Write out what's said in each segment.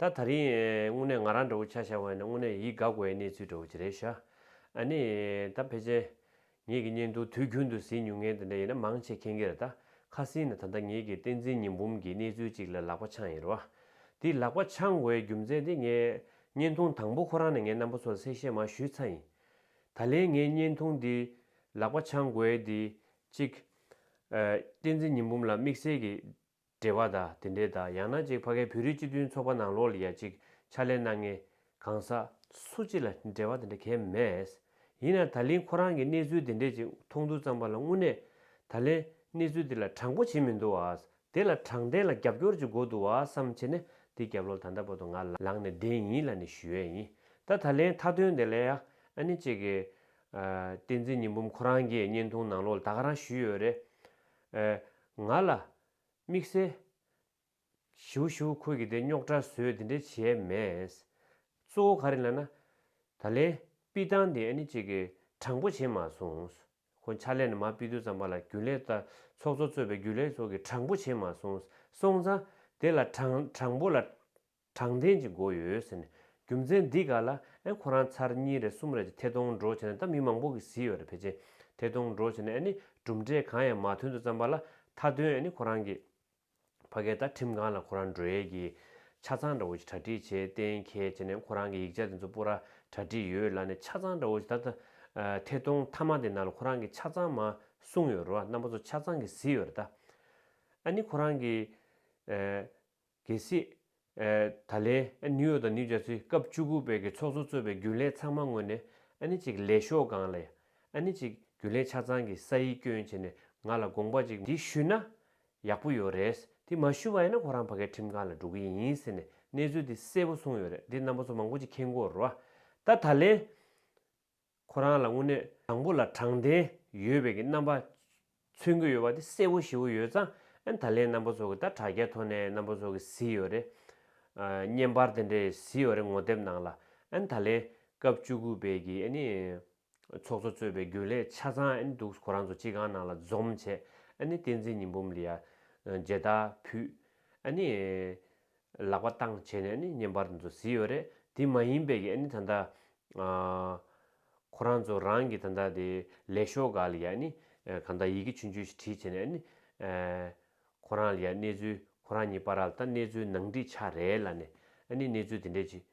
ད་ད་རིང་དངོས་གནས་ང་རང་འདྲ་བོ་ཆ་ཤ་བ་ཡིན་ན་དངོས་གནས་ཡིད་དགའ་དགོས་ཡ་གནས་ཚུལ་འདྲ་བོ་ཅི་རེད་ཤག་ཨ་ནི་ད་ཕལ་ཆེན་ངེད་ཀྱི་བརྙན་ཐུང་དུས་རྒྱུན་དུ་ཟིན་མྱོང་མཁན་དེ་འདྲ་ཡིན་ན་མང་ཆེ་མཁྱེན་གི་རེད་ད་ཁ་སིན་ན་ད་ལྟ་ངེད་ཀྱི་བསྟན་འཛིན་ཉི་འབུམ་གྱི་གནས་ཚུལ་གཅིག་ལ་ལག་པ་འཆང་ཡིན་རུང་ཨ་དེ་ལག་པ་འཆང་དགོས་ཡའི་རྒྱུ་མཚན་དེ་ངས་བརྙན་ཐུང་དང་པོ་ཁོ་རང་ནས་ངའི་རྣམ་པ་ཚོ་ལ་གསལ་བཤད་མང་ཞུས་ཚར་ཡིན་ད་ལན་ངའི་བརྙན་ཐུང་འདི་ལག་པ་འཆང་དགོས་ཡའི་དེ་གཅིག་ཨ་བསྟན་འཛིན་ཉི་འབུམ་ལ་དམིགས་བསལ་གྱི་འབྲེལ་བ་དང་དེ་འབྲེལ་དང་ཡང་ན་ཅིག་ཕ་གའི་བོད་རིགས་སྤྱི་མཐུན་ཚོགས་པ་ནང་ལོགས་ལ་ཡ་ཅིག་ཕྱག་ལས་གནང་ངེས། གང་ཟག་སུ་གཅིག་ལ་འབྲེལ་བ་དེ་འདྲ་གལ་མེད། ཡིན་ཡང་ད་ལིན་ཁོ་རང་གི་གནས་ཚུལ་དེ་འདྲས་ཅིག་མཐོང་འདུག་ཙང་པ་ལ་དངོས་གནས་ད་ལན་གནས་ཚུལ་དེ་ལ་དྲང་པོ་བྱེད་མི་འདུག་བ། དེ་ལ་དྲང་བདེན་ལ་རྒྱབ་སྐྱོར་ཅིག་དགོས་འདུག་བ་བསམ་བྱེད་ནས་དེ་རྒྱབ་ལོགས་ད་ལྟ་བར་དུ་ང་ལང་ནས་བསྡད་ཡིན་ལ་ནི་ཞུ་ཡས་ཡིན་ད་ད་ལན་མཐའ་དོན་དེ་ལ་ཡ་ཨ་ནི་ཅིག་གི། བསྟན་འཛིན་ཉི་འབུམ་ཁོ་རང་གིས་བརྙན་ཐུང་ནང་ལོགས་ལ་ད་ག་རང་ཞུས་ཡོད་རེད། ཨ། ང་ལ། དམིགས་བསལ། བཞུགས་བཞུགས་ཁོ་གིས་དེ་རྙོག་དྲ་བཟོས་དེ་འདྲས་བྱས་མེད། གཙོ་བོ་ག་རེ་ལ་ན། ད་ལན། པི་ཏང་དེ་ཨ་ནི་ཅིག་གི་དྲང་པོ་བྱེད་མ་སོང། ཁོ་ཕྱག་ལས་ནི་མ་པི་ཏུ་ཙམ་པ་ལ་རྒྱུན་ལས་ལྟ་ཚོགས་གཙོ་གཙོས་པའི་རྒྱུན་ལས་སོགས་ཀྱི་དྲང་པོ་བྱེད་མ་སོང། སོང་ཙང། དེ་ལ་དྲང་དྲང་པོ་ལ། དྲང་བདེན་གྱི་མགོ་ཡོད་ཟེར་ནས་རྒྱུ་མཚན་འདི་ག་ལ་ཨེ་ཁོ་རང་ཚར་གཉིས་རེ་གསུམ་རེ་གྱི་ཐད་གཏོང་འགྲོ་བྱས་ན་ད་མི་མང་པོ་གི་བཟི་ཡོད་རེད་བེ་ཅིན་ཐད་གཏོང་འགྲོ་བྱས་ན་ཨེ་ནི་གྲུབ་འབྲས་གང་ཡང་མ་ཐོན་དུ་བརྩམས་པ་ལ་མཐའ་དོན་ཨེ་ནི་ཁོ་རང་གི་ཕ་གའི་ད་ཁྲིམས་ཁང་ལ་ཁོ་རང་འགྲོ་ཡས་ཀྱི་ཆ་ཚང་འདྲ་བོ་ཞིག་གྲ་སྒྲིག་བྱས་གཏན་འཁེལ་བྱས་ནས་ཁོ་རང་གི་ཡིག་ཆ་དེ་ཚོ་པོ་ར་གྲ་སྒྲིག་ཡོད་ལ་ནི་ཆ་ཚང་འདྲ་བོ་ཞིག་ད་ད་ཐད་གཏོང་མཐའ་མ་དེ་ནང་ལ་ཁོ་རང་གི་ཆ་ཚང་མ་གསུངས་ཡོད་རེད་བ་རྣམ་པ་ཚོ་ཆ་ཚང་གི་བཟི་ཡོད་རེད་ད་ཨེ་ནི་ཁོ་རང་གི་གལ་སྲིད། ད་ལན། ནིའུ་ཡོག་དང་ནིའུ་ཇར་སི་སྐབས་བཅུ་དགུ་པའི་གི་ཚོགས་གཙོ་གཙོས་པའི་རྒྱུན་ལས་ཚང་མ་ངོས་ནས། ནི་ཅིག་ལས་ཤོག་གང་ལ། ནི་ཅིག་རྒྱུན་ལས་ཆ་ཚང་གི་ས་ཡིག་སྐྱོན་བྱས་ནས་ང་ལ་དགོངས་པ་ཅིག་འདི་ཞུས་ན། ཡག་པོ་ཡོད་རེད། འདི་མ་ཞུས་པ་ཡིན་ན་ཁོ་རང་ཕ་གའི་ཁྲིམས་ཁང་ལ་འགྲོ་གི་ཡིན་ཟེར་ནས་གནས་ཚུལ་འདི་གསལ་པོ་གསུངས་ཡོད་རེད་འདི་རྣམ་པ་ཚོ་མང་པོ་ཅིག་མཁྱེན་དགོས་རོ། ད་ད་ལན། ཁོ་རང་ལ་དངོས་གནས་དང་པོ་ལ་དྲང་བདེན་ཡོད་པའི་གི་རྣམ་པ་མཚོན་གྱི་ཡོད་པ་དེ་གསལ་བོ་ཞིའོ་ཡོད་ཙང་ཨན་ད་ལན་རྣམ་པ་ཚོ་གི་ད་དྲ་རྒྱ་ཐོ་ནས་རྣམ་པ་ཚོ་གི་བཟི་ཡོད་རེད་བརྙན་པར་དེ་འདྲས་བཟི་ཡོད་རེད་ངོ་དེབ་ནང་ལ་ཨན་ད་ལན་སྐབས་བཅུ་དགུ་པའི་གི་ཨ་ནི་ཚོགས་གཙོ་གཙོས་པའི་རྒྱུན་ལས་ཆ་ཚང་ཨན་འདུག་ཁོ་རང་ཚོ་སྤྱི་ཁང་ནང་ལ་འཛོམས་བྱས་ཨ་ནི་བསྟན་འཛིན་ཉི་འབུམ་ལི་ཡ་མཇལ་དར་ཕུད་ཨ་ནི། ལག་པ་བཏང་བྱས་ནས་ནི་ཉན་པར་འདི་ཚོ་བཟི་ཡོད་རེད་དེ་མ་ཡིན་པའི་གི་ནི་ད་ལྟ་ཁོ་རང་ཚོ་རང་གི་ད་ལྟ་དེ་ལས་ཤོག་ག་ལ་ཡ་ནི་གང་ལྟ་ཡི་གི་ཆུན་ཆུན་ཞིག་བྲིས་བྱས་ནས་ནི་ཁོ་རང་ལ་ཡ་གནས་ཚུལ་ཁོ་རང་གཉིས་པ་ར་ལ་ད་གནས་ཚུལ་ནང་བྲིས་ཆ་རེད་ལ་ནི་ནི་གནས་ཚུལ་དེ་འདྲས་ཅིག་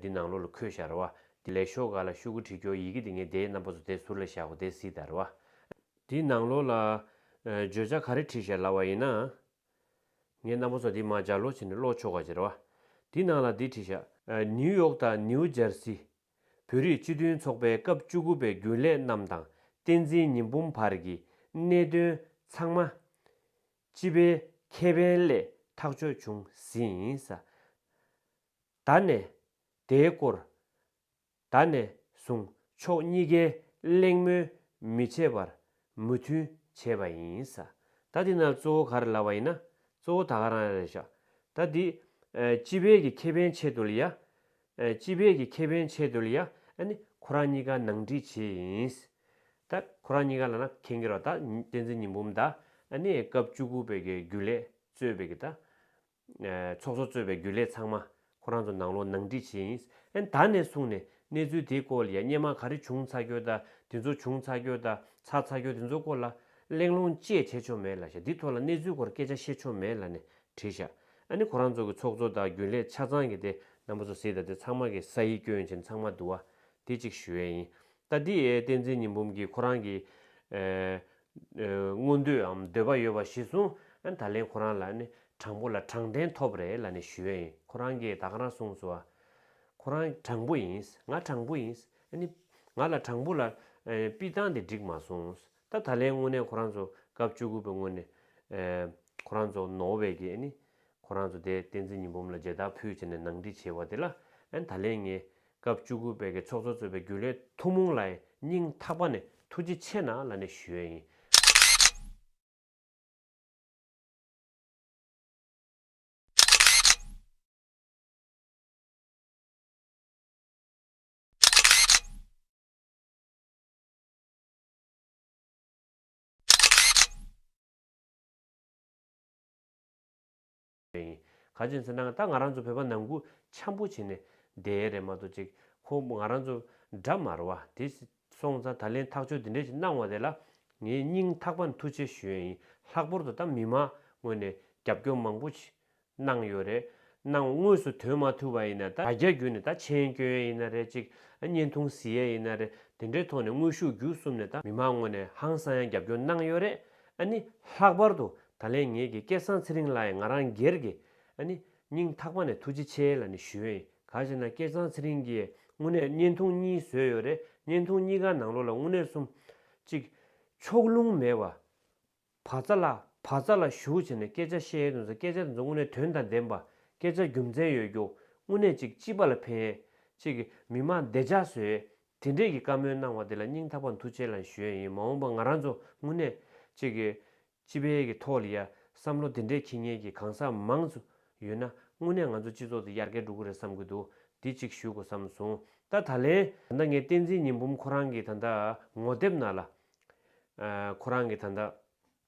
འདི་ནང་ལོག་ལ་འཁོད་ཤག་ར་བ་དེ་ལས་ཤོག་ག་ལ་ཤུ་གུ་བྲིས་ཁྱོ་ཡི་གི་དེ་ངས་དེའི་རྣམ་པ་ཚོ་དེ་ཟུར་ལ་བཞག་གོ་དེ་བཟི་ད་ར་བ། དེའི་ནང་ལོག་ལ་བརྗོད་བྱ་ག་རེ་བྲིས་ཤག་ལ་བ་ཡིན་ན་ངའི་རྣ་བུག་ཚ་འདི་མ་སྦྱར་ལོ་བྱས་ནས་ཀློག་ཆོག་ག་ཅེས་རེ་བ། འདི་ནང་ལ་འདི་བྲིས་བཞག། ནིའུ་ཡོག་དང་ནིའུ་ཇར་སི། བོད་རིགས་སྤྱི་མཐུན་ཚོགས་པའི་སྐབས་བཅུ་དགུ་པའི་རྒྱུན་ལས་རྣམས་དང་བསྟན་འཛིན་ཉི་འབུམ་བར་གྱི་གནད་དོན་ཚང་མ། སྤྱི་པའི་ཁེ་ཕན་ལས་ཐག་གཅོད་བྱུང་ཟིན། ད་ནས་དེའི་སྐོར་ད་ནས་བཟུང་ཕྱོགས་གཉིས་ཀའི་གླེང་མོལ་མི་བྱེད་པར་མོས་མཐུན་བྱས་པ་ཡིན། ད་འདི་ན་གཙོ་བོ་ག་རེ་ལབ་པ་ཡིན་ན་གཙོ་བོ་ད་ག་རང་རེད་བཞག་ད་འདི། སྤྱི་བེད་ཀྱི་ཁེ་ཕན་ཆེད་དུ་ལ་ཡ། སྤྱི་བེད་ཀྱི་ཁེ་ཕན་ཆེད་དུ་ལ་ཡ་ནི་ཁོ་རང་གཉིས་ཀ་ནང་འགྲིག་བྱེད་ཡིན། ད་ཁོ་རང་གཉིས་ཀ་ལ་ན་ཁེན་གི་རོ་ད་བསྟན་འཛིན་ཉི་འབུམ་ད་ནི་སྐབས་བཅུ་དགུ་པའི་གི་རྒྱུ་ལས་རྩོད་པའི་གི་ད། ཚོགས་གཙོ་གཙོས་པའི་རྒྱུན་ལས་ཚང་མ་ཁོ་རང་ཚོ་ནང་ལོག་ནང་འདྲི་བྱེད་ཡིན། ཨེ་ན་ད་ནས་བཟུང་ནས་གནས་ཚུལ་དེའི་སྐོར་ལ་ཡ་བསྙད་མ་ག་རེ་བྱུང་ཚ་རྒྱུ་ད་དེ་ཚོ་བྱུང་ཚ་རྒྱུ་ད་ཚ་ཚ་རྒྱུ་དེ་ཚོ་སྐོར་ལ་གླེང་སློང་བཅས་བྱེད་ཆོག་མེད་ལ་ཤ་འདི་ཐོག་ལ་གནས་ཚུལ་སྐོར་སྐད་ཆ་བཤད་ཆོག་མེད་ལ་ནས་བྲིས་ཤ་ཨེ་ན་ཁོ་རང་ཚོ་གི་ཚོགས་གཙོ་ད་རྒྱུན་ལས་ཆ་ཚང་གི་དེ་རྣམ་པ་ཚོ་གཟིགས་ད་དེ་ཚང་མ་གི་ས་ཡིག་སྐྱོན་ཅན་ཚང་མ་དུ་བ་དེ་གཅིག་ཞུ་ཡས་ཡིན་ད་འདི་ཨེ་བསྟན་འཛིན་ཉི་འབུམ་གི་ཁོ་རང་གི་ཨེ་མངོན་འདོདའམ་འདོད་པ་ཡོད་པ་གཞི་བཟུང་ཨན་ད་ལན་ཁོ་རང་ལ་ནི་དྲང་པོ་ལ་དྲང་བདེན་ཐོབ་རེད་ལ་ནི་ཞུས་ཨིན་ཁོ་རང་གིས་ད་ག་རང་གསུངས་སོ་ཨ། ཁོ་རང་དྲང་པོ་ཡིན་ང་དྲང་པོ་ཡིན་ཨ་ནི། ང་ལ་དྲང་པོ་ལ་པི་བཏང་དེ་འགྲིག་མ་སོང་ད་ད་ལན་དངོས་གནས་ཁོ་རང་ཚོ་སྐབས་བཅུ་དགུ་པའི་སྔོན་ནས་ཁོ་རང་ཚོ་ནོ་བེལ་གྱི་ཨ་ནི། ཁོ་རང་ཚོ་དེ་བསྟན་འཛིན་ཉི་འབུམ་ལ་མཇལ་དར་ཕུལ་བྱས་ནས་ནང་འདྲི་བྱས་བ་དེ་ལ་ཨན་ད་ལན་ངས་སྐབས་བཅུ་དགུ་པའི་གི་ཚོགས་གཙོ་གཙོས་པའི་རྒྱུན་ལས་ཐུང་མོང་ལ་སྙིང་ཐག་པ་ནས་ཐུགས་རྗེ་ཆེ་ན་ལ་ནས་ཞུ་ཡས་ཡིན། རེད། ག་ཅོད་འཚེར་ནའང་ད་ང་རང་ཚོ་བོད་པ་ནང་ཁུ་འཆམ་པོ་བྱེད་ནས་བསྡད་ཡས་རེད་མ་གཏོགས་ཅིག་ཁོ་ང་རང་ཚོ་དགྲ་མ་ར་བ་དེ་སོང་ཙང་ད་ལན་ཐག་ཆོད་དེ་འདྲས་ཅིག་གནང་བ་དེ་ལ་ངའི་སྙིང་ཐག་པ་མཐུ་ཆེ་ཞུ་ཡས་ཡིན་ལྷག་པོར་དུ་ད་མི་མང་ངོས་ནས་རྒྱབ་སྐྱོར་མང་པོ་བྱེད་གནང་ཡོད་རེད་གནང་དངོས་སུ་དོན་མ་ཐུ་བ་ཡིན་ན་ད་རྒྱ་རྒྱུ་ནས་ད་མཆན་བསྐྱོན་ཡས་ཡིན་ན་རེད་ཅིག་བརྙན་ཐུང་གཟི་ཡས་ཡིན་ན་རེད་དེ་འདྲས་ཐོག་ནས་དངོས་ཤུགས་རྒྱུ་གསུམ་ནས་ད་མི་མང་ངོས་ནས་ཧང་སང་ཡང་རྒྱབ་སྐྱོར་གནང་ཡོད་རེད་ཨ་ནི། ལྷག་པར་དུ་ད་ལན་ངེད་ཀྱི་སྐལ་བཟང་ཚེ་རིང་ལགས་ཡིས་ང་རང་སྒེར་གྱི། ཨ་ནི། སྙིང་ཐག་པ་ནས་ཐུགས་རྗེ་ཆེ་ལ་ནི་ཞུ། ག་ཞེ་ན་སྐལ་བཟང་ཚེ་རིང་གིས་དངུལ་གནས་བརྙན་ཐུང་གཉིས་བཟོས་ཡོད་རེད་བརྙན་ཐུང་གཉིས་ཀ་ནང་ལོགས་ལ་དངུལ་གནས་གསུམ། གཅིག། ཕྱོགས་ལྷུང་མེད་པ། བ་ཙཱ་ལ་བ་ཙཱ་ལ་ཞུ་བྱས་ནས་སྐད་ཆ་བཤད་ཡས་དུ་ཟེར་སྐད་ཆ་དེ་ཚོ་དངུལ་གནས་དོན་དང་ལྡན་པ། སྐད་ཆ་རྒྱུ་མཚན་ཡོད་རྒྱུ། དངུལ་གནས་གཅིག་སྤྱི་པ་ལ་ཕན་ཡས། གཅིག། མི་མང་བདེ་འཇགས་བཟོས་ཡས། དེ་འདྲས་ཀྱི་བཀའ་མོལ་གནང་བ་དེ་ལ་སྙིང་ཐག་པ་མཐུ་ཆེ་ལ་ཞུས་ཡིན་མ་འོངས་པ་ང་རང་ཚོ་དངོས་གནས་གཅིག་གི་སྤྱི་པའི་གི་ཐོག་ལ་ཡ་བསམ་བློ་དེ་འདྲས་འཁྱིལ་ཉེན་གྱི་གང་ཟག་མང་ཚོ་ཡོད་ན་དངོས་གནས་ང་ཚོ་སྤྱི་ཚོགས་དེ་ཡར་རྒལ་འགྲོ་གི་རེད་བསམ་གི་འདུག་དེ་གཅིག་ཞུས་གོ་བསམ་སོང་ད་ད་ལན། ད་ལྟ་ངའི་བསྟན་འཛིན་ཉི་འབུམ་ཁོ་རང་གི་ད་ད་ངོ་དེབ་ནང་ལ་ཁོ་རང་གི་ད་ད།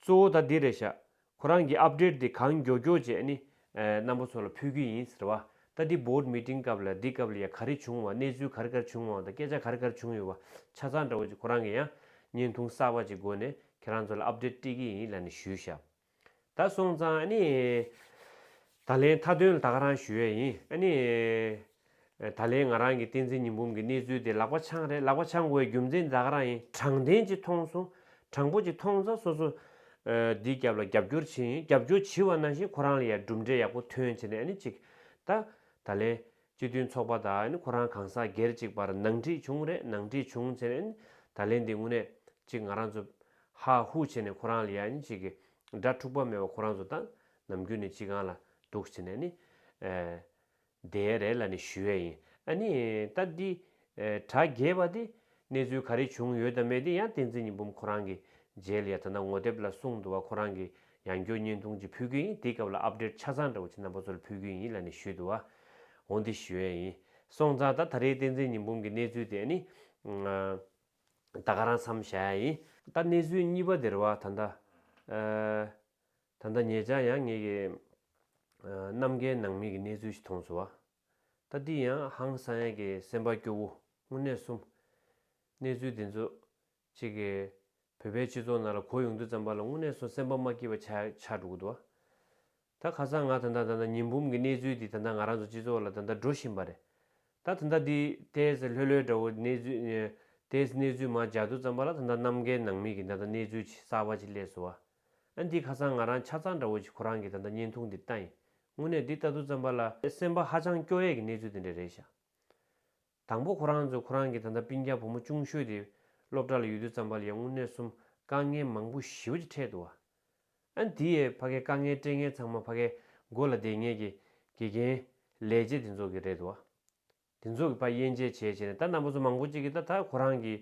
གཙོ་བོ་ད་འདི་རེད་ཤག་ཁོ་རང་གི update དེ་གང་མགྱོགས་མགྱོགས་བྱས་ནི་རྣམ་པ་ཚོ་ལ་ཕུལ་གི་ཡིན་ཟེར་བ་ད་འདི board meeting སྐབས་ལ་འདི་སྐབས་ལ་ཡ་ག་རེ་བྱུང་བ་གནས་ཚུལ་ག་རེ་གར་བྱུང་བ་དང་སྐད་ཆ་ག་རེ་གར་བྱུང་ཡོད་བ་ཆ་ཚང་འདྲ་བོ་ཅིག་ཁོ་རང་གི་ཡང་བརྙན་ཐུང་གསར་བ་ཅིག་སྒོ་ནས་ཁྱེད་རང་ཚོ་ལ update སྤྲད་ཀྱི་ཡིན་ལ་ནི་ཞུས་ཤག་ད་སོང་ཙང་ནི་ད་ལན་མཐའ་དོན་ལ་ད་ག་རང་ཞུ་ཡས་ཡིན་ནི། ད་ལན་ང་རང་གིས་བསྟན་འཛིན་ཉི་འབུམ་གྱི་གནས་ཚུལ་དེ་ལག་པ་འཆང་རེད་ལག་པ་འཆང་དགོས་རྒྱུ་མཚན་འཛག་རང་ཡིན་དྲང་བདེན་ཅིག་མཐོང་སོང་དྲང་པོ་ཅིག་མཐོང་ཚ་སོ་སོ་འདི་རྒྱབ་ལ་རྒྱབ་སྐྱོར་བྱེད་ཡིན་རྒྱབ་སྐྱོར་བྱི་བ་ནང་བཞིན་ཁོ་རང་ལ་ཡ་གྲུབ་འབྲས་ཡག་པོ་ཐོན་བྱེད་ནས་ཨ་ནི་ཅིག་ད་ད་ལན་སྤྱི་མཐུན་ཚོགས་པ་དང་ཨ་ནི་ཁོ་རང་གང་ཟག་སྒེར་ཅིག་བར་ནང་འཁྲིས་བྱུང་རེད་ནང་འཁྲིས་བྱུང་བྱེད་ནས་ཨ་ནི་ད་ལན་འདི་དངོས་གནས་ཅིག་ང་རང་ཚོ་ཧ་ཧུ་བྱེད་ནས་ཁོ་རང་ལ་ཡ་ཨ་ནི་ཅིག་གི་སྒྲ་འཁྲུག་པ་མེད་པ་ཁོ་རང་ཚོ་དང་ནམ་རྒྱུན་ནས་ཅིག་གང་ལ་འདུག་བྱེད་ནས་ཨ་ནི་དེའི་རེ་ལ་ནི་ཞུ་ཡས་ཡིན། ཨ་ནི། ད་འདི། དྲ་རྒྱའི་བ་དེ། གནས་ཚུལ་ག་རེ་བྱུང་ཡོད་དམ་མེད་དེ་ཡང་བསྟན་འཛིན་ཉི་འབུམ་ཁོ་རང་གིས་མཇལ་ཡ་ད་ནག་ངོ་དེབ་ལ་གསུང་འདུག་བ་ཁོ་རང་གིས་ཡང་མགྱོགས་བརྙན་ཐུང་ཅིག་ཕུལ་གྱི་ཡིན་དེའི་སྐབས་ལ update ཆ་ཚང་འདྲ་བོ་ཆེ་རྣམ་པ་ཚོ་ལ་ཕུལ་གྱི་ཡིན་ལ་ནི་ཞུས་འདུག་བ། འོ་འདི་ཞུ་ཡས་ཡིན། སོང་ཙང་ད་ད་རེའི་བསྟན་འཛིན་ཉི་འབུམ་གྱི་གནས་ཚུལ་དེ་ཨ་ནི། ད་ག་རང་འཚམས་བཞག་ཡ་ཡིན། ད་གནས་ཚུལ་གཉིས་པ་དེར་བ་ད་ད། ད་ལྟ་ངེད་ཅག་ཡང་ངེད་ཀྱི་ནམ་མཁའི་ནང་མིག་གི་གནས་ཚུལ་ཞིག་མཐོང་ཚུལ། ད་འདི་ཡང་ཧང་སང་ཡན་གྱི་སེམས་པ་སྐྱོ་བོ་དངོས་གནས་གསུམ། གནས་ཚུལ་འདི་ཚོ་གཅིག་གིས་བོད་པའི་སྤྱི་ཚོགས་ནང་ལ་གོ་ཡོང་དུས་ཙམ་པ་ལ་དངོས་གནས་སུ་སེམས་པ་མ་སྐྱིད་པ་ཆགས་ཆགས་འགྲོ་གི་འདུག་ད་ཁ་སང་ང་ད་ལྟ་ད་ལྟ་ཉིན་འབུམ་གྱི་གནས་ཚུལ་འདི་ད་ལྟ་ང་རང་ཚོ་སྤྱི་ཚོགས་ལ་ད་ལྟ་འགྲོ་བཞིན་པ་རེད་ད་ད་ལྟ་འདི་ལྟས་ལྷོད་ལྷོད་འདྲ་བོ་གནས་ཚུལ་ལྟས་གནས་ཚུལ་མ་འཇགས་དུས་ཙམ་པ་ལ་ད་ལྟ་ནམ་མཁའི་ནང་མིག་གི་ད་ལྟ་གནས་ཚུལ་གསར་པ་ཅིག་སླེབས་སོང་བ། ཨ་འདི་ཁ་སང་ང་རང་ཆ་ཚང་འདྲ་བོ་ཞིག་ཁོ་རང་གི་ད་ལྟ་བརྙན་ཐུང་འདི་ལྟ་ཡིན་དངོས་གནས་འདི་ལྟ་དུས་བརྩམས་པ་ལ་སེམས་པ་ཧ་ཅང་སྐྱོ་ཡས་ཀྱི་གནས་ཚུལ་འདི་འདྲ་རེད་ཤག་དང་པོ་ཁོ་རང་ཚོས་ཁོ་རང་གི་ད་ལྟ་སྤིན་རྒྱ་བུ་མོ་ཅུང་ཤོས་དེ་སློབ་གྲྭ་ལ་ཡོད་དུས་བརྩམས་པ་ལ་ཡང་དངོས་གནས་གསུམ་དཀའ་ངལ་མང་པོ་ཞི་བ་ཅིག་འཕྲད་འདུག་ཨ་འདི་ཡས་ཕ་གའི་དཀའ་ངལ་སྤྲད་ངན་ཚང་མ་ཕ་གའི་མགོ་ལ་བསྡད་ངས་ཀྱི་དགེ་རྒན་ལས་བྱེད་དེ་ཚོ་གི་རེད་འདུག་ཨ། དེ་ཚོ་གི་བ་དབྱེ་འབྱེད་བྱས་བྱས་ནས་ད་ནང་པ་ཚོ་མང་པོ་ཅིག་གི་ད་ད་ཁོ་རང་གི།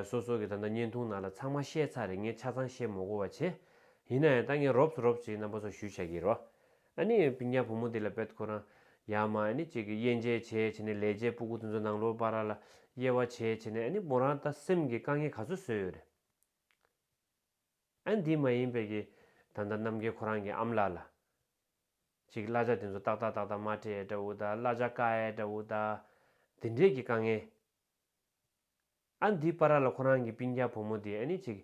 སོ་སོ་གི་ད་ད་བརྙན་ཐུང་ནང་ལ་ཚང་མ་བཤད་ཚར་རེད་ངས་ཆ་ཚང་བཤད་མོ་གོ་བ་བྱེད། ཡིན་ན་ཡང་ད་ངས་རོབ་ཚོ་རོབ་ཅིག་ནང་པ་ཚོར་ཞུ་བྱ་གི་རོགས། ཨ་ནི་བི་ཉག་བུ་མོ་དེ་ལ་བེད་ཁོ་རང། ཡག་མ་ཨ་ནི་ཅིག་གི་དབྱེ་འབྱེད་བྱས་བྱས་ནས་ལས་བྱེད་སྤུ་གུ་དེ་ཚོ་ནང་ལོར་བ་ར་ལ་དབྱེ་བ་བྱས་བྱས་ནས་ཨ་ནི་མོ་རང་ད་སེམས་ཀྱི་དཀའ་ངལ་ག་ཚོད་བཟོས་ཡོད་རེད། ཨན་དེ་མ་ཡིན་པའི་གི་ད་ལྟ་རྣམ་རྒྱལ་ཁོ་རང་གི་ཨམ་ལགས་ལ། ཅིག་བླ་ཆ་དེ་ཚོ་ཏག་ཏག་ཏག་ཏག་མ་ཏྲེ་ཨེ་འདྲ་བོ་ད་བླ་ཆ་ཀ་ཨེ་འདྲ་བོ་ད། དེ་འདྲས་གི་དཀའ་ངལ། ཨན་དེ་པ་ར་ལ་ཁོ་རང་གི་པིང་རྒྱ་བུ་མོ་དེ་ཨེ་ནི་ཅིག།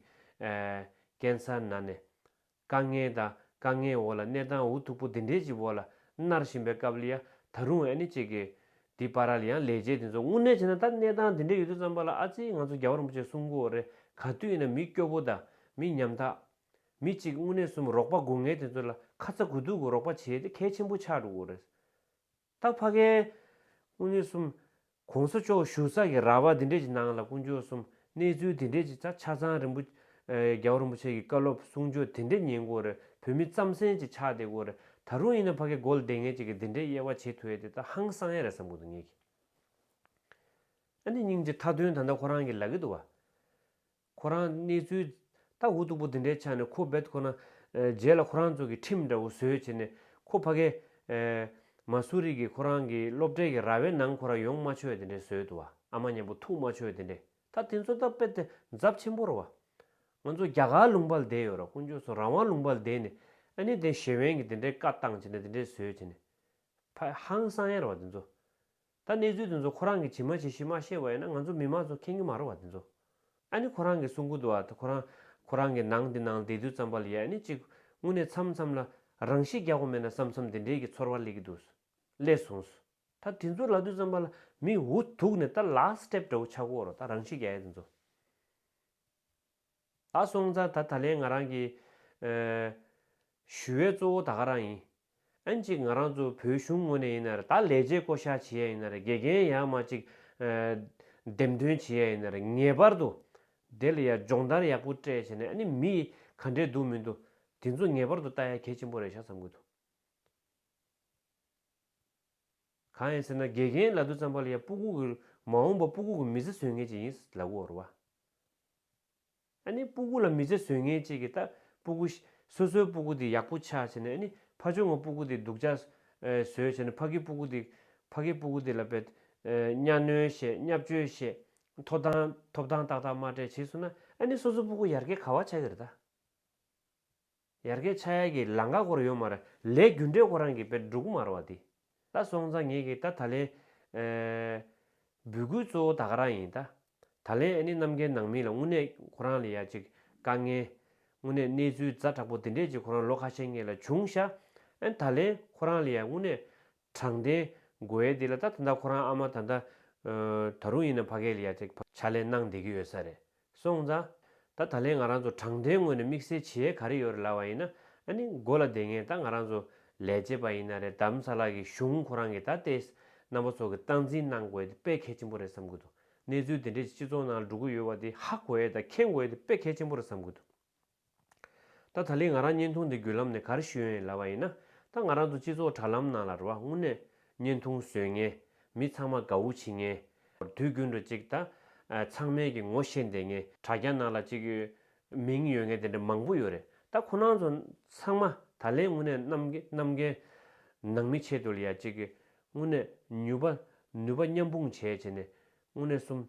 ཀན་སར་ན་ནས། དཀའ་ངལ་དང་དཀའ་ངལ་འོག་ལ་གནས་སྟངས་འུ་ཐུག་པོ་དེ་འདྲས་ཀྱི་འོག་ལ་མནར་བཞིན་པའི་སྐབས་ལ་ཡ་ད་རུང་ཨེ་ནི་ཅིག་གི། དེ་པར་རལ་ཡང་ལས་བྱེད་དེ་ཚོ་དངོས་གནས་བྱས་ན་ད་གནས་སྟངས་དེ་འདྲས་ཡོད་དུས་ཙམ་པ་ལ་ཨ་ཙི་ང་ཚོ་རྒྱ་བོ་རིན་པོ་ཆེ་གསུང་གོ་རེ་ག་དུས་ཡིན་ན་མི་སྐྱོ་པོ་དང་མི་ཉམ་ཐག། མི་གཅིག་དངོས་གནས་གསུམ་རོགས་པ་སྒུག་ངེས་དེ་ཚོ་ལ་ཁ་ཚ་དགོས་གཏུགས་ཀྱི་རོགས་པ་བྱས་ཏེ་གལ་ཆེན་པོ་ཆགས་འགྲོ་གོ་རེ། ད་ཕ་གའི། དངོས་གནས་གསུམ། གོང་ས་མཆོག་བཞུགས་ས་གི་ར་བ་དེ་འདྲས་ཀྱི་ནང་ལ་དཀོན་མཆོག་གསུམ་གནས་ཚུལ་དེ་འབྲེལ་གྱི་ཆ་ཆ་ཚང་རིན་པོ་རྒྱ་བོད་རིན་པོ་ཆེ་གི་བཀའ་སློབ་གསུང་ཆོས་དེ་འབྲེལ་ཉན་དགོས་རེད་བོད་མི་རྩམ་ཟན་གྱི་ཆགས་བསྡད་དགོས་རེད་ད་རུང་ཡིན་ན་ཕ་གི་མགོ་ལ་བསྡད་ངེས་ཅིག་གི་དེ་འདྲའི་དབྱེ་བ་འབྱེད་ཐུ་ཡེ་དེ་ད་ཧང་སང་ཡ་རེད་བསམ་དགོས་འདུག་ངེད་ཀྱི་ཨ་ནེ་སྙིང་རྗེ་མཐའ་དོན་ད་ད་ཁོ་རང་གི་ལག་གི་འདུག་བ། ཁོ་རང་གནས་ཚུལ་ད་འུ་སྟུག་པོ་འདི་འདྲའི་ཆ་ནས་ཁོ་བེད་ཁོ་ན་རྗེས་ལ་ཁོ་རང་ཚོ་གི་ཁྲིམས་འདྲ་བོ་བཟོས་བྱས་ནས་ཁོ་ཕ་གས། མ་སུ་རིག་གི་ཁོ་རང་གི་སློབ་གྲལ་གི་ར་བའི་ནང་ཁོ་རང་ཡོང་མ་ཆོད་དེ་འདྲས་བཟོས་འདུག་བ་ཨ་མ་གཉན་པོ་ཐུག་མ་ཆོད་དེ་འདྲས་ད་དེ་ཚོ་ད་དཔེ་དེ་འཛབ་ཆེན་པོ་ར་བ། ང་ཚོ་རྒྱ་གར་ལུང་པར་བསྡད་ཡོད་ར་དཀོན་མཆོག་སུ་རང་དབང་ལུང་པར་བསྡད་ནས་ཨ་ནི་དེ་ཞེ་བན་གི་དེ་འདྲས་བཀའ་བཏང་བྱས་ནས་དེ་འདྲས་བཟོས་བྱས་ནས་ཕ་ཧང་སང་ཡ་ར་བ་དེ་ཚོ། ད་གནས་ཚུལ་དེ་ཚོ་ཁོ་རང་གི་ཇི་མ་ཇི་བཞིན་མ་ཤེས་པ་ཡིན་ན་ང་ཚོ་མི་མང་ཚོ་མཁྱེན་གྱི་མ་རོ་བ་དེ་ཚོ་ཨ་ནི་ཁོ་རང་གི་གསུང་གོ་དུ་བ་ཁོ་རང་ཁོ་རང་གི་ནང་དེ་ནང་བསྡད་དུས་ཙམ་པ་ལ་ཡ་ཨ་ནི་གཅིག་དངོས་གནས་མཚམས་མཚམས་ལ་རང་ཤི་རྒྱག་པ་མེད་ན་བསམ་བསམ་དེ་འདྲས་ཀྱི་ཚོར་བ་སླེ་གི་འདུག་སླེ་སོང། ད་དེ་ཚོ་ལ་དུས་ཙམ་པ་ལ་མི་འུ་ཐུག་ནས་ད last step འདྲ་བོ་ཆག་གོ་རོ་ད་རང་ཤི་རྒྱག་ཡ་དེ་ཚོ། ད་སོང་ཙང་ད་ད་ལན་ང་རང་གི། ཞུ་བའི་གཙོ་བོ་ད་ག་རང་ཡིན། ཨན་ཅིག་ང་རང་ཚོ་བོད་གཞུང་ངོ་ནས་ཡིན་ནར་ད་ལས་བྱེད་བསྐོ་བཞག་བྱེད་ཡ་ཡིན་ནར་དགེ་རྒན་ཡག་མ་ཅིག། འདེམས་ཐོན་བྱེད་ཡ་ཡིན་ནར་ངེས་པར་དུ། དེ་ལ་ཡ་སྦྱོང་བརྡར་ཡག་པོ་སྤྲད་བྱས་ནས་ཨ་ནི་མི་ག་འདྲས་འདུག་མི་འདུག་དེ་ཚོ་ངེས་པར་དུ་ལྟ་ཡ་གལ་ཆེན་པོ་རེད་ཤག་བསམ་གི་འདུག། གང་ཡིན་ཟེར་ན་དགེ་རྒན་ལ་དུ་བརྩམས་པ་ལ་ཡང་སྤུ་གུག་གིས་མ་འོངས་པ་སྤུ་གུག་གི་མི་ཚེ་བཟོས་ངེས་ཅིག་ཡིན་ལབ་གོ་རོ། ཨ་ནི་སྤུ་གུག་ལ་མི་ཚེ་བཟོས་ངེས་ཅིག་གི་ད་སྤུ་གུ། སོ་སོའི་སྤུ་གུ་དེ་ཡག་པོ་ཆགས་བྱས་ནས་ཨ་ནི་ཕ་ཆུང་ངའི་སྤུ་གུ་དེ་སྡུག་ཅག་བཟོས་བྱས་ནས་ཕ་གི་སྤུ་གུ་དེ་ཕ་གི་སྤུ་གུ་དེ་ལ་བེད་གཉའ་གནོན་བྱས་བསྙབ་བཅོལ་བྱས་ཐོབ་ཐང་ཐོབ་ཐང་ཏག་ཏག་མ་སྤྲད་བྱས་སོང་ན་ཨ་ནི་སོ་སོའི་སྤུ་གུ་ཡར་རྒྱས་ག་བ་ཆགས་ཀྱི་རེད་ད། ཡར་གའི་ཆ་ཡར་གྱི་ལང་ཀ་སྐོར་ཡོད་མ་རེད་ལས་རྒྱུ་འབྲས་ཁོ་རང་གི་དཔེར་འབྲུག་མར་བ་འདི་ད་སོང་ཙང་ངེད་ཀྱི་ད་ད་ལན་འབུད་སྐུལ་གཙོ་བོ་ད་ག་རང་ཡིན་ད་ད་ལན་ཨ་ནི་གནམ་མཁའི་ནང་མི་ལ་དངོས་གནས་ཁོ་རང་ལ་ཡ་ཅིག་དཀའ་ངལ་དངོས་གནས་གནས་ཚུལ་རྫ་དྲག་པོ་འདི་འདྲས་ཅིག་ཁོ་རང་ལོ་ཁ་ཤས་ངེད་ལ་བྱུང་ཤ་ཨ་ནི་ད་ལན་ཁོ་རང་ལ་ཡ་དངོས་གནས་དྲང་བདེན། དགོས་འདི་ལ་ད་ད་ཁོ་རང་ཨ་མ་ད་ད། ད་རུང་ཡིན་ན་ཕ་གལ་ཡ་ཐེག་ཕྱག་ལས་གནང་བསྡད་ཀྱི་ཡོད་ས་རེད། སོང་ཙང། ད་ད་ལན་ང་རང་ཚོ་དྲང་བདེན་ངོས་ནས་དམིགས་བསལ་བྱེད་ཡས་ག་རེ་ཡོད་རེད་ལབ་བ་ཡིན་ན་ཨ་ནི་མགོ་ལ་འདེད་ངེས་ད་ང་རང་ཚོ་ལས་བྱེད་པ་ཡིན་ན་རེད་དམ་ས་ལ་གི་གཞུང་ཁོ་རང་གི་ད་ལྟའི་རྣམ་པ་ཚོ་གི་སྟངས་འཛིན་གནང་དགོས་འདི་དཔེ་གལ་ཆེན་པོ་རེད་བསམ་གྱི་འདུག་གནས་ཚུལ་འདི་འདྲས་ཅིག་སྤྱི་ཚོགས་ནང་འགྲོ་གི་ཡོད་བ་འདི་ཧ་གོ་ཡས་ད་མཁྱེན་དགོས་འདི་དཔེ་གལ་ཆེན་པོ་རེད་བསམ་གྱི་འདུག། ད་ད་ལི་ང་རང་བརྙན་ཐུང་འདི་བརྒྱུད་ལམ་ནས་གར་ཞུས་ཡོན་ལབ་བ་ཡིན་ན་ད་ང་རང་ཚོ་སྤྱི་ཚོགས་དྲ་ལམ་ནང་ལ་རུ་བ་དངུལ་ནས་བརྙན་ཐུང་བཟོས་ངན་མི་ཚང་མ་དགའ་བོ་བྱེད་ངན་དུས་རྒྱུན་རུ་ཅིག་ད་ཚང་མལ་གྱི་ངོ་ཤེས་འདེད་ངན་དྲ་རྒྱ་ནང་ལ་ཅིག་མིང་ཡོད་ངན་དེ་འདྲ་མང་པོ་ཡོད་རེད་ད་ཁོ་ནང་ཚོ་ཚང་མ་ད་ལེན་དངུལ་ནས་གནམ་གནམ་རྒན་ནང་མི་ཆེད་དུ་ལ་ཡ་ཅིག་དངུལ་ནས་ཉུལ་བ་ནུས་པ་མཉམ་སྤུངས་བྱས་བྱས་ནས་དངོས་གནས་གསུམ།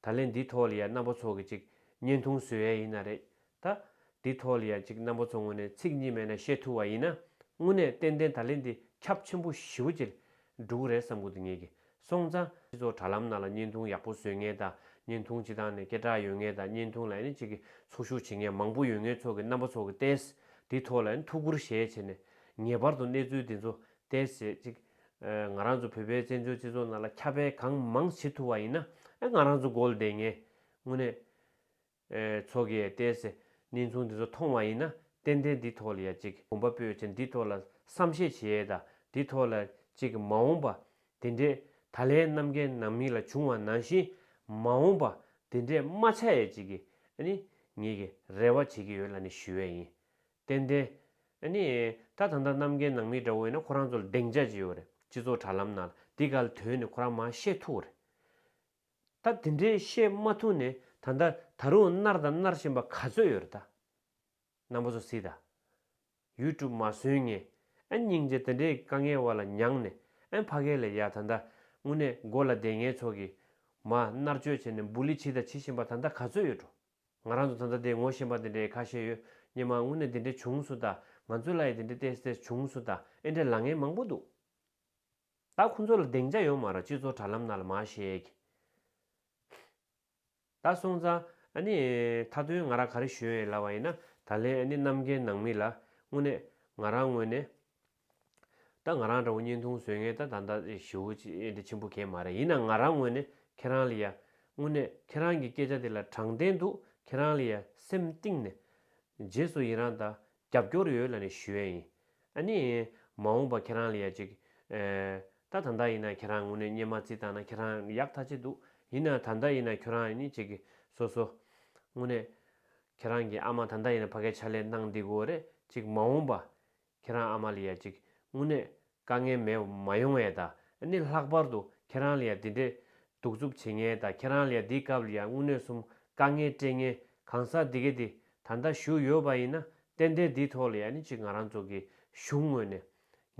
ད་ལན་འདི་ཐོག་ལ་ཡ་རྣམ་པ་ཚོ་གི་ཅིག་བརྙན་ཐུང་བཟོས་ཡ་ཡིན་ན་རེད་ད། འདི་ཐོག་ལ་ཡ་ཅིག་རྣམ་པ་ཚོ་ངོ་ནས་ཚིག་གཉིས་མེད་ན་བཤད་ཐུབ་བ་ཡིན་ན་དངོས་གནས་ཏན་ཏན་ད་ལན་འདི་ཁྱབ་ཆེན་པོ་ཞི་བོ་ཅིག་འགྲུག་གི་རེད་བསམ་གི་འདུག་ངེད་ཀྱི་སོང་ཙང་སྤྱི་ཚོགས་དྲ་ལམ་ནང་ལ་བརྙན་ཐུང་ཡག་པོ་བཟོས་ངེས་ད་བརྙན་ཐུང་སྤྱི་དང་ནས་སྐད་གྲགས་ཡོད་ངེས་ད་བརྙན་ཐུང་ལ་ཡ་ནས་ཅིག་གི་ཚོགས་ཞུགས་བྱེད་ངེས་མང་པོ་ཡོད་ངེས་ཚོགས་གི་རྣམ་པ་ཚོ་གི་ཏས་འདི་ཐོག་ལ་ཡ་ཐུགས་ཁུར་བཞེས་བྱེད་ནས་ངེས་པར་དུ་གནས་ཚུལ་འདི་ཚོ་ཏས་བྱེད་ཅིག་ང་རང་ཚོ་བོད་པའི་བཙན་བྱོལ་སྤྱི་ཚོགས་ནང་ལ་ཁྱབ་སྤེལ་གང་མང་བྱེད་ཐུབ་བ་ཡིན་ན་ང་རང་ཚོ་མགོ་བདེ་ངེས། དངོས་གནས། ཚོགས་ཀྱིས་བལྟས་ཚེ་གནས་ཚུལ་འདི་ཚོ་མཐོང་བ་ཡིན་ན་ཏན་ཏན་འདི་ཐོག་ལ་ཡ་གཅིག་གོམ་པ་སྤོས་ཆེད་འདི་ཐོག་ལ་བསམ་ཤེས་བྱེད་ཡས་དང་འདི་ཐོག་ལ་གཅིག་མ་འོངས་པ་འདི་འདྲས་ད་ལན་གནམ་རྒན་ནང་མི་ལ་བྱུང་བ་ནང་བཞིན་མ་འོངས་པ་འདི་འདྲས་མ་ཆགས་ཡས་གཅིག་གི་ནི་ངེད་ཀྱི་རེ་བ་བྱེད་ཀྱི་ཡོད་ལ་ནི་ཞུ་ཡས་ཡིན། ཏན་ཏན། ཨ་ནི། ད་ད་འདྲ་རྣམ་རྒན་ནང་མི་འདྲ་བོ་ཡིན་ན་ཁོ་རང་ཚོ་ལ་གདེང་འཇགས་ཅི་ཡོད་རེད་སྤྱི་ཚོགས་དྲ་ལམ་ནང་ལ་འདི་དགའ་ལ་དོན་ནི་ཁོ་རང་མ་ཤེས་ཐུག་རེད། ད་དེ་འདྲའི་ཤེས་མ་ཐུག་ནས་ད་ད་ད་རུང་མནར་དང་མནར་བཞིན་པ་ག་ཚོད་ཡོད་རེད་ད། ནང་པ་ཚོ་སི་ད། ཡུལ་གྲུབ་མ་སོན་ངས་ཨ་སྙིང་རྗེ་དེ་འདྲའི་དཀའ་ངལ་བ་ལ་མྱངས་ནས་ཨ་ཕ་ག་ལ་ཡ་ད་ད་དངོས་གནས་མགོ་ལ་བདེ་ངའི་ཚོགས་ཀྱིས་མ་མནར་གཅོད་བྱས་ནས་འབུ་ལི་བྱི་ད་བྱི་བཞིན་པ་ད་ད་ག་ཚོད་ཡོད་འགྲོ། ང་རང་ཚོ་ད་ལྟ་དེ་ངོ་ཤེས་པ་དེ་འདྲའི་ཁ་ཤས་ཡོད་སྙམ་ཨང་དངོས་གནས་དེ་འདྲའི་བྱུང་སོ་ད་ང་ཚོའི་ལ་ཡི་དེ་འདྲའི་ཏེས་ཏེས་བྱུང་སོ་ད་ཨེ་འདྲ་ལ་ངན་མང་པོ་འདུག་ད་ཁོང་ཚོ་ལ་གདེང་ཆ་ཡོང་མ་ར་སྤྱི་ཚོགས་དྲ་ལམ་ན་ལ་མ་ཤེས་ད་སོང་ཙང་ཨ་ནི་མཐའ་དོན་ང་ར་ག་རེ་ཞུ་ཨེ་ལ་བ་ཡིན་ན་ད་ལན་ཨ་ནི་གནམ་རྒན་ནང་མི་ལ་དངོས་གནས་ང་རང་དངོས་གནས། ད་ང་རང་འདྲ་བོ་བརྙན་ཐུང་བཟོས་ངེས་ད་ད་ལྟ་ཞི་བོ་འདི་ཆེན་པོ་གས་མ་རེད་ཡིན་ན་ང་རང་དངོས་ནས་ཁྱེད་རང་ལ་ཡ། དངོས་གནས་ཁྱེད་རང་གི་སྐད་ཆ་དེ་ལ་དྲང་བདེན་འདུག་ཁྱེད་རང་ལ་ཡ་སེམས་གཏིང་ནས། རྗེས་སུ་ཡི་རང་དང་རྒྱབ་སྐྱོར་ཡོད་ལ་ནས་ཞུ་ཡས་ཡིན། ཨ་ནི། མ་འོངས་པ་ཁྱེད་རང་ལ་ཡ་ཅིག། ད་ད་ལྟ་ཡིན་ན་ཁྱེད་རང་དངོས་གནས་བརྙན་མ་རྩིས་བཏང་ན་ཁྱེད་རང་ཡག་ཐ་ཆད་འདུག་ཡིན་ན་ད་ལྟ་ཡིན་ན་ཁྱོད་རང་ནི་ཅིག་གི་སོ་སོ། དངོས་གནས། ཁྱེད་རང་གི་ཨ་མ་ད་ལྟ་ཡིན་ན་ཕ་གས་ཕྱག་ལས་གནང་འདི་དགོས་རེད་ཅིག་མ་འོངས་པ། ཁྱེད་རང་ཨ་མ་ལ་ཡ་གཅིག་དངོས་གནས་དཀའ་ངལ་མེད་མ་ཡོང་བས་ད་ནི་ལྷག་པར་དུ་ཁྱེད་རང་ལ་ཡ་འདི་འདྲའི་གདུག་རྩུབ་བྱེད་ངེས་ད་ཁྱེད་རང་ལ་ཡ་འདིའི་སྐབས་ལ་ཡ་དངོས་གནས་གསུམ་དཀའ་ངལ་སྤྲད་ངེས་གང་ཟག་འདི་ག་འདི་ད་ལྟ་བཞུགས་ཡོད་པ་ཡིན་ན་ཏན་ཏན་འདིའི་ཐོག་ལ་ཡ་ནི་གཅིག་ང་རང་ཚོ་གི་གཞུང་ངོས་ནས་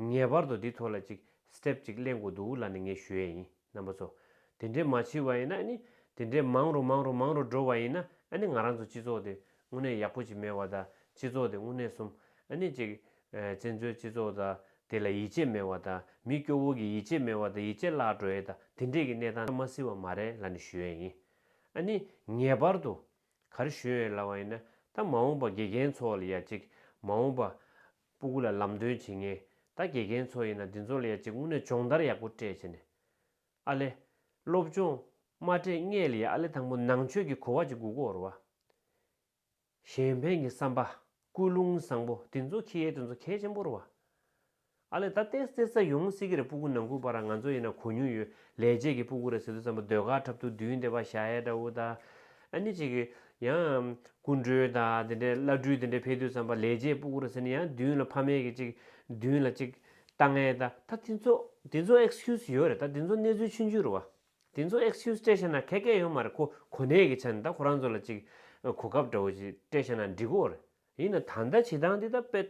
ངེས་པར་དུ་འདི་ཐོག་ལ་གཅིག step གཅིག་གླེང་དགོས་འདུག་ལ་ནི་ངས་ཞུ་ཡས་ཡིན། རྣམ་པ་ཚོ། དེ་འདྲའི་མ་བྱས་བ་ཡིན་ན་ནི་དེ་འདྲའི་མང་རུ་མང་རུ་མང་རུ་འགྲོ་བ་ཡིན་ན་ནི་ང་རང་ཚོ་སྤྱི་ཚོགས་དེ་དངོས་གནས་ཡག་པོ་ཅིག་མེད་བ་དང་སྤྱི་ཚོགས་དེ་དངོས་གནས་གསུམ་ནི་ཅིག་བཙན་བྱོལ་སྤྱི་ཚོགས་དང་དེ་ལ་ཡིད་ཆེས་མེད་བ་དང་མི་སྐྱོ་བོ་གི་ཡིད་ཆེས་མེད་བ་དང་ཡིད་ཆེས་བརླག་འགྲོ་ཡས་དང་དེ་འདྲས་ཀྱི་གནས་སྟངས་མ་སྲིད་བ་མ་རེད་ལ་ནི་ཞུ་ཡས་ཡིན། ནི་ངེས་པར་དུ་ག་རེ་ཞུ་ཡས་ལ་བ་ཡིན་ན་ད་མ་འོངས་པ་དགེ་རྒན་ཚོ་ལ་ཡ་ཅིག་མ་འོངས་པ་སྤུ་གུ་ལ་ལམ་སྟོན་བྱེད་ངེས་ད་དགེ་རྒན་ཚོ་ཡིན་ན་འདི་ཚོ་ལ་ཡ་གཅིག་དངོས་གནས་སྦྱོང་བརྡར་ཡག་པོ་སྤྲད་བྱས་ནས་ཨ་ལེ། སློབ་སྦྱོང། མ་སྤྲད་སྔས་ལ་ཡ་ཨ་ལེ་དང་པོ་ནང་ཆོས་ཀྱི་གོ་བ་གཅིག་དགུག་གོར་བ། གཞན་ཕན་གྱི་བསམ་པ། ཀུན་སློང་བཟང་པོ་དེ་ཚོ་ཁྱི་ཡའི་དེ་ཚོ་གལ་ཆེན་པོར་བ། ཨ་ལེ་ད་ལྟའི་གསེར་རྩ་ཡོང་སྲིད་ཀྱི་རེད་སྤུ་གུ་ནང་ཁུལ་བ་ར་ང་ཚོ་ཡིན་ན་གོ་མྱོང་ཡོད་ལས་བྱེད་ཀྱི་སྤུ་གུ་ར་ཟེར་དུས་ཙམ་པོ་ཟློས་གར་འཁྲབ་ཐུག་བདུན་དེ་བ་ཞྭའི་སྒྲ་འུར་ད། ཨ་ནི་གཅིག། ཡང། སྐུ་མགྲོན་དང་དེ་འདྲའི་བླ་སྤྲུལ་དེ་འདྲའི་ཕེབས་དུས་བརྩམས་པ་ལས་རྗེས་སྤུག་བུར་ཟེར་ནས་ཡང་བདུན་ལ་ཕ་མེས་ཀྱི་གཅིག། བདུན་ལ་གཅིག། ལྟ་ངན་ད། ད་དེ་ཚོ། དེ་ཚོ Excuse ཡོད་རེད་ད་དེ་ཚོ་གནས་ཚུལ་ཆུན་ཆུན་རུ་བ། དེ་ཚོ Excuse སྤྲད་ཤེས་ན་གད་སྐད་ཡོད་མ་རེད་ཁོ་གོ་གནས་ཀྱི་ཆ་ནས་ད་ཁོ་རང་ཚོ་ལ་གཅིག། གོ་སྐབས་འདྲ་བོ་ཞིག་སྤྲད་ཤེས་ན་འགྲིག་གོ་རེད། ཡིན་ན་ད་ལྟ་བྱེད་སྟངས་འདི་ལྟར་དཔེར།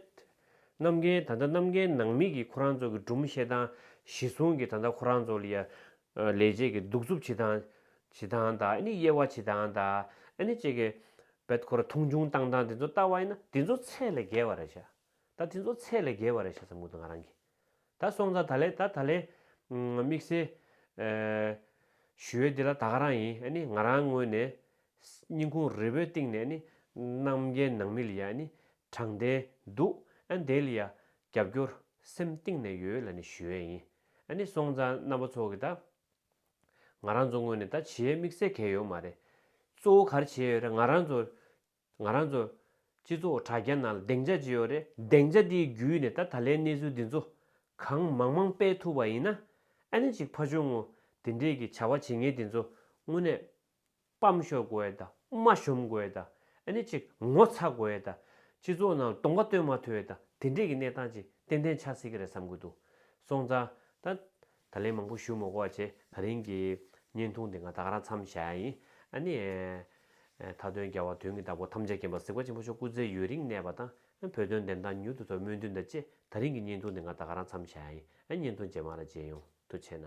གནམ་རྒན་ད་ལྟ་གནམ་རྒན་ནང་མི་གིས་ཁོ་རང་ཚོ་གི་སྦྲུམ་བཤད་སྟངས་གཞི་བཟུང་གིས་ད་ལྟ་ཁོ་རང་ཚོ་ལ་ཡ། ལས་བྱེད་ཀྱི་གདུག་རྩུབ་བྱེད་སྟངས། བྱེད་སྟངས་དང་ནི་དབྱེ་བ་བྱེད་སྟངས་དང་ནི་བཅས་ཀྱི། དཔེར་ཁོ་ར་མཐོང་ཆུང་བཏང་སྟངས་དེ་ཚོ་ལྟ་བ་ཡིན་ན་དེ་ཚོ་ཚད་ལས་བརྒལ་བ་རེད་བྱ། ད་དེ་ཚོ་ཚད་ལས་བརྒལ་བ་རེད་བྱ་ས་མུ་མཐུད་ང་རང་གིས། ད་སོང་ཙང་ད་ལས་ད་ད་ལས། དམིགས་བསལ། ཞུ་བའི་དེ་ལ་ད་ག་རང་ཡིན་ཨ་ནི་ང་རང་ངོས་ནས། སྙིང་ཁུང་རིལ་བོའི་སྟེང་ནས་ཨ་ནི། རྣམ་རྒྱལ་ནང་མི་ལ་ཡ་ཨ་ནི། དྲང་བདེན་འདུག་ཨ་འདས་ལ་ཡ། རྒྱབ་སྐྱོར་སེམས་གཏིང་ནས་ཡོད་ལ་ནི་ཞུ་ཨེ་ཡིན། ཨ་ནི་སོང་ཙང་རྣམ་པ་ཚོ་གི་ད། ང་རང་ཚོ་ངོས་ནས་ད་བྱེའི་དམིགས་བསལ་གལ་ཡོད་མ་རེད། གཙོ་བོ་གར་བྱེད་ཡོད་རེད་ང་རང་ཚོ། ང་རང་ཚོ། སྤྱི་ཚོགས་དྲ་རྒྱ་ནང་ལ་གདེང་འཇགས་ཅི་ཡོད་རེད། གདེང་འཇགས་དེའི་བརྒྱུད་ནས་ད་ད་ལའི་གནས་ཚུལ་འདི་ཚོ། གང་མང་མང་སྤེལ་ཐུབ་པ་ཡིན་ན། ཨ་ནི་ཅིག་ཕ་ཆུང་ངུ། དེ་འདྲས་ཀྱི་བྱ་བ་བྱེད་ངེས་དེ་ཚོ་དངོས་གནས། སྤམ་ཤོར་དགོས་ཨེ་ད། མ་གཞོམ་དགོས་ཨེ་ད། ཨ་ནི་ཅིག་ངོ་ཚ་དགོས་ཨེ་ད། སྤྱི་ཚོགས་ནང་ལ་གདོང་པ་སྟོན་མ་ཐུབ་ཨེ་ད། དེ་འདྲས་ཀྱི་གནས་སྟངས་ཅིག་ཏན་ཏན་ཆགས་སྲིད་ཀྱི་རེད་བསམ་གྱི་འདུག་སོང་ཙང། ད། ད་ལན་མང་པོ་བཞུགས་མོ་ཀོ་ཅེས་ད་རིང་གི་བརྙན་ཐུང་དེ་ང་ད་ག་རང་མཚམས་བཞག་ཡ་ཡིན་ཨ་ནི། མཐའ་དོན་རྒྱལ་བ་དོན་གྱི་བདག་པོ་ཐམས་ཅད་མཁྱེན་པ་སེ་ཀོ་ཆེན་པོ་མཆོག་སྐུ་ཚེ་ཡུན་རིང་གནས་པ་དང་བོད་དོན་བདེན་དང་མྱུར་དུ་ཐོབ་སྨོན་འདུན་དང་བཅས་ད་རིང་གི་བརྙན་ཐུང་དེ་ང་ད་ག་རང་མཚམས་བཞག་ཡ་ཡིན་ཨ་བརྙན་ཐུང་རྗེས་མ་ལ་མཇལ་ཡོང་དུ་ཆེ་ན།